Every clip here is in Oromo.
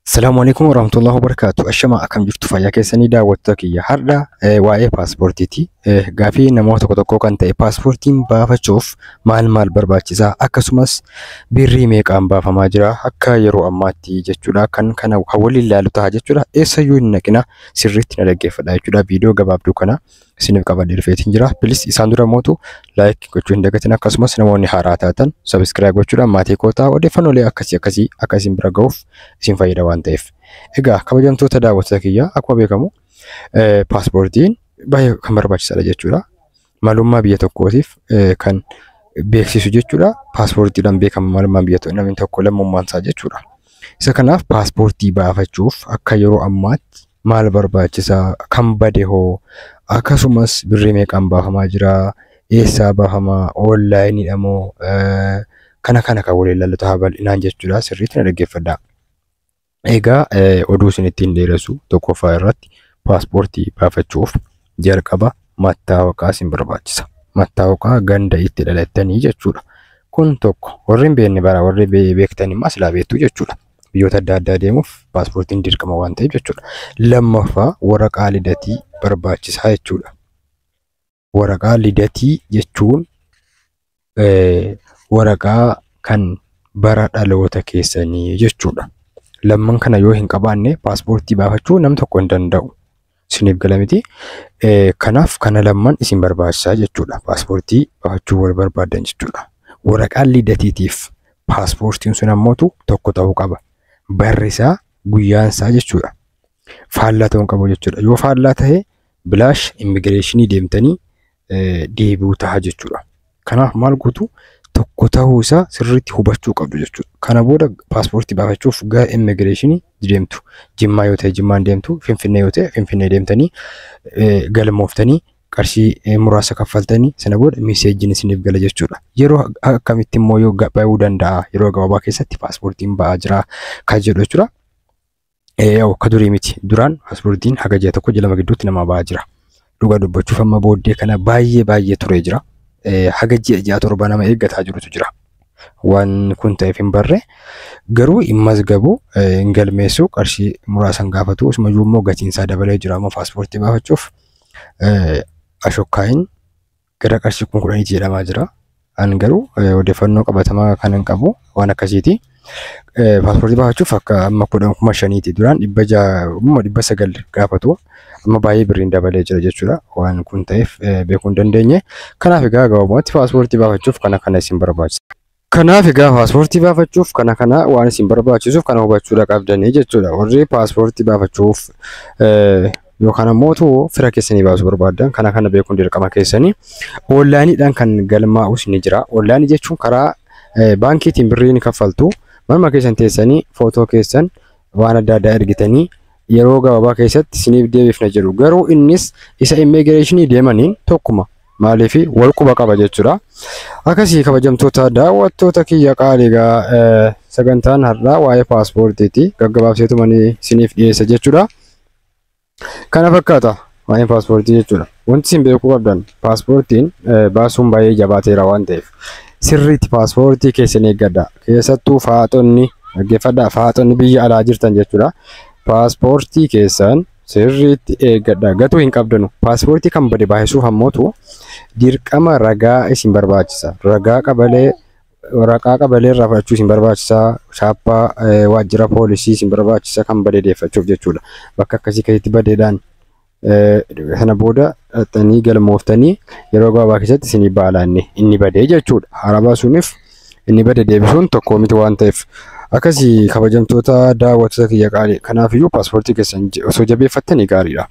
Salaamu alaikum warahmatullahi wabarakatuh. Ashama akkam jirtu fayyaa keessanii daawwattoota kiyya. Har'a eh, waa'ee paaspoortiiti. Eh, Gaafii namoota tokko tokkoo kan ta'e paaspoortiin baafachuuf maal maal barbaachisa? Akkasumas birrii meeqaan baafamaa jira? Akka yeroo ammaatti jechuudha. Kan kana kan waliin ilaalu ta'a jechuudha. Eessayyuu hin naqina sirriitti na dhaggeeffadha jechuudha. Viidiyoo gabaabduu kana isiniif qabadhee dhufeetiin jira. Pilis isaan dura mootu laayik gochuu hin dagatin akkasumas namoonni haaraa taatan sabiskiraayib gochuudhaan maatii kootaa odeeffannoolee akkasii akkasii akka isin bira ga'uuf isin fayyada waan ta'eef. Egaa kabajamtoota daawwattoota kiyyaa akkuma beekamu paaspoortiin baay'ee kan barbaachisaadha jechuudha. Malummaa biyya tokkootiif kan beeksisu jechuudha. Paaspoortiidhaan beekama malummaan biyya tokko namni tokko lammummaan isaa jechuudha. Isa kanaaf paaspoortii baafachuuf akka yeroo ammaatti maal barbaachisa kan bade hoo akkasumas birrii meeqaan baafamaa jira eessaa baafama oonlaayiniidha moo eh, kana kana kan waliin ilaallu ta'a bal'inaan jechuudha sirriitti na dhaggeeffadha. Egaa eh, oduu isin ittiin dheeressu tokkoffaa irratti paaspoortii baafachuuf jalqaba mattaawaqaa isin barbaachisa. Mattaawaqaa ganda itti dhalattanii jechuudha. Kun tokko warri hin beekne bara warri be- beektan immoo silaa beektu jechuudha. biyyoota adda addaa deemuuf paaspoortiin dirqama waan ta'eef jechuudha. Lammaffaa waraqaa lidatii barbaachisaa jechuudha. Waraqaa lidatii jechuun waraqaa kan bara dhaloota keessanii jechuudha. Lamman kana yoo hin qabaanne paaspoortii baafachuu nam tokko hin danda'u. isiniif gala miti. Kanaaf kana lamman isin barbaachisa jechuudha. Paaspoortii baafachuu wal barbaaddan jechuudha. Waraqaan lidatiitiif paaspoortiin sun ammootu tokko ta'uu qaba. Barri isaa guyyaan isaa jechuudha. Faallaa ta'uu hin qabu jechuudha. Yoo faallaa ta'e bilaash immigireeshinii deemtanii deebi'u ta'a jechuudha. Kanaaf maal gootu tokko ta'uu isaa sirriitti hubachuu qabdu jechuudha. Kana booda paaspoortii baafachuuf gara immigireeshinii deemtu. Jimmaa yoo ta'e Jimmaan deemtu, Finfinnee yoo ta'e Finfinnee deemtanii galmooftanii qarshii muraasa kaffaltanii sana booda miseejjiin isiniif gala jechuudha. Yeroo akkamitti immoo yoo ba'uu danda'a yeroo gabaabaa keessatti paaspoortiin ba'aa jira kan jedhu jechuudha. akka durii miti. Duraan paaspoortiin haga ji'a tokko ji'a lama gidduutti namaa bahaa jira. Dhugaa dubbachuuf amma booddee kana baay'ee baay'ee turee jira. Haga ji'a ji'a torba nama eeggataa jirutu jira. Waan kun ta'eef hin barre garuu hin mazgabu hin galmeessu qarshii muraasan gaafatu asumayyuu immoo gatiin isaa dabalee jira amma paaspoortii baafachuuf ashokkaayin gara qarshii kuma kudhaniiti jedhamaa jira. Ani garuu eh, odeeffannoo qabatamaa kan hin qabu waan akkasiiti. Eh, Paaspoortii baafachuuf akka amma kudhan kuma shaniiti duraan dhibba ja'a kuma dhibba sagal gaafatu amma baay'ee birriin dabalee jira jechuudha waan kun ta'eef eh, beekuu hin dandeenye. Kanaaf egaa gabaabumatti paaspoortii baafachuuf kana kana isin barbaachisa. Kanaaf egaa paaspoortii baafachuuf kana kana waan isin barbaachisuuf kana hubachuudha qabdanii jechuudha. Warri paaspoortii baafachuuf yookaan ammoo utuu fira keessanii baasuu barbaaddan kana kana beekuun dirqama keessanii. Oonlaayiniidhaan kan galmaa'us ni jira. Oonlaayinii jechuun karaa baankiitiin birrii ni kaffaltu. Manuma keessan teessanii footoo keessan waan adda addaa ergitanii yeroo gabaabaa keessatti isiniif deebifna jedhu. Garuu innis isa immigireeshinii deemaniin tokkuma. maaliif wal quba qaba jechuudha. Akkasii kabajamtoota daawwattoota kiyya qaaligaa eh, sagantaan har'aa waa'ee paaspoortiiti gaggabaabseetuma ni isiniif dhiyeessa jechuudha. Kana fakkaata waa'een paaspoortii jechuudha. Wanti isin beekuu qabdan paaspoortiin eh, baasuun baay'ee jabaateera waan ta'eef sirriitti paaspoortii keessan eeggadha. Keessattuu faaxonni dhaggeeffadhaa faaxonni biyya alaa jirtan jechuudha. Paaspoortii keessan Sirriitti eeggadha. Gatuu hin qabdanu. Paaspoortii kan bade baay'isuuf ammootu dirqama ragaa isin barbaachisa. Ragaa qabalee waraqaa qabalee irraa fudhachuu isin barbaachisa. Chaappaa eh, waajjira poolisii isin barbaachisa kan bade deeffachuuf jechuudha. Bakka akkasii keessatti badeedhaan eh, sana booda dhaxxanii galmooftanii yeroo gabaabaa keessatti isinii baalaanne inni badee jechuudha. Haaraa baasuuniif inni bade deebisuun tokko miti waan ta'eef. Akkasii kabajamtoota daawwattoota kiyya qaalii kanaaf iyyuu paaspoortii keessan je- osoo jabeeffattanii gaariidha.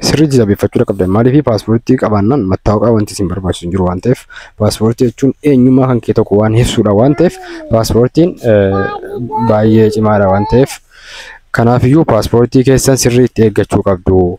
Sirriitti jabeeffachuu qabdan maaliif paaspoortii qabaannaan mattaawaqaa wanti isin barbaachisu hin jiru waan ta'eef paaspoortii jechuun eenyummaa kan kee tokko waan ibsuudha waan ta'eef paaspoortiin eh, baay'ee cimaadha waan ta'eef kanaaf iyyuu paaspoortii keessan sirriitti eeggachuu qabdu.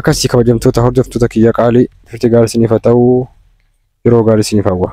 Akkasii kabajamtoota hordoftoota kiyya qaalii turtii gaarii isiniif haa ta'u yeroo gaarii isiniif hawwa.